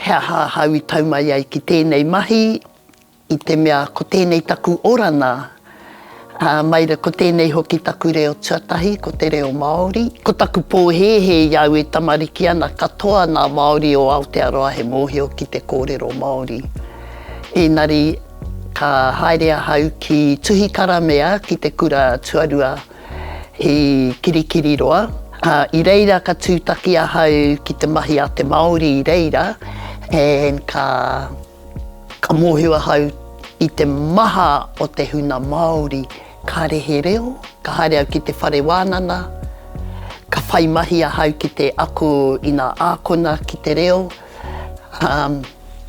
He aha ahau i tau mai ai ki tēnei mahi, i te mea ko tēnei taku orana, ā, mai rā ko tēnei hoki taku reo tuatahi, ko te reo Māori. Ko taku pōhēhē i au e tamariki ana katoa nā Māori o Aotearoa he mōhio ki te kōrero Māori. Ēnari, ka haere ahau ki Tuhikaramea ki te kura tuarua, I Kirikiriroa, ā, i reira ka tūtaki ahau ki te mahi a te Māori i reira and ka, ka mōhio ahau i te maha o te huna Māori, kāre he reo, ka haere au ki te whare wānana, ka whai mahi ahau ki te ako i ngā ākona ki te reo, Um,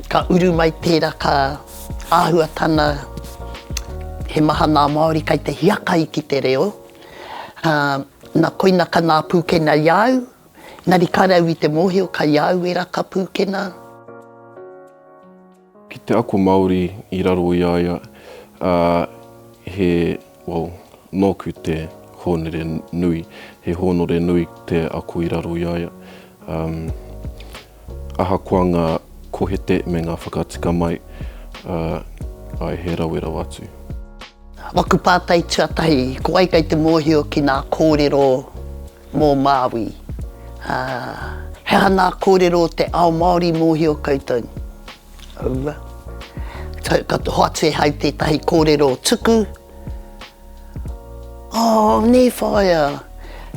ka uru mai tērā, ka āhua tana, he maha nā Māori kei te hiakai ki te reo. Um, na koina ka nā pūkena i au, nari ka rau i te mōhio kai au e raka pūkena. Ki te ako Māori i raro i a ia, ā, he, well, nōku te hōnere nui, he hōnore nui te ako i raro i a ia. Um, ahakoa ngā kohete me ngā whakatika mai, ā, āe, he rawe rawa atu. Waku pātai tuatahi, ko wai kei te mōhio ki nā kōrero Mō Māui, ā, he aha ngā kōrero o te ao Māori mōhio koutou? Aua. Ka hoatu e Hai tētahi kōrero tuku. Oh, nē whaea,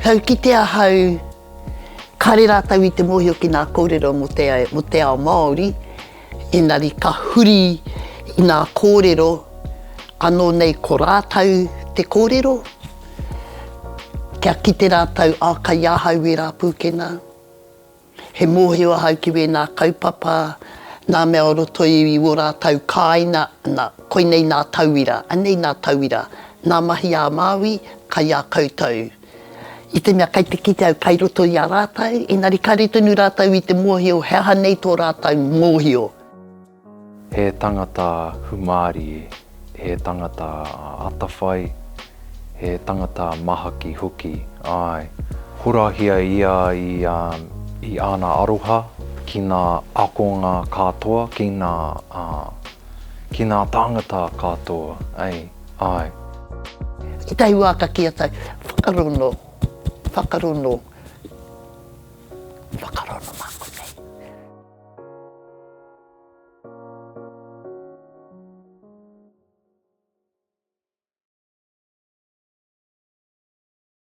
kau kite ahau, kāre rātou i te mōhio ki ngā kōrero mō te ao Māori. Engari ka huri i ngā kōrero anō nei ko rātou te kōrero, kia kite rātou, ā, kei ahau wērā pūkenga. He mōhio ahau ki wēnā kaupapa, ngā mea o roto i ō rātou kāinga, nā, koinei ngā tauira, anei ngā tauira, ngā mahi ā-Māui, kei a koutou. I te mea kei te kite au kai roto i a rātou, engari kare tonu rātou i te mōhio he aha nei tō rātou mōhio. He tangata humārie, he tangata atawhai, he tangata mahaki hoki, āe. Horahia ia i āna aroha ki ngā akonga kātoa, ki ngā tāngata kātoa. Ae. Ki tahi wa ka ki a tai, Whakarono, whakarono, whakarono ma konei.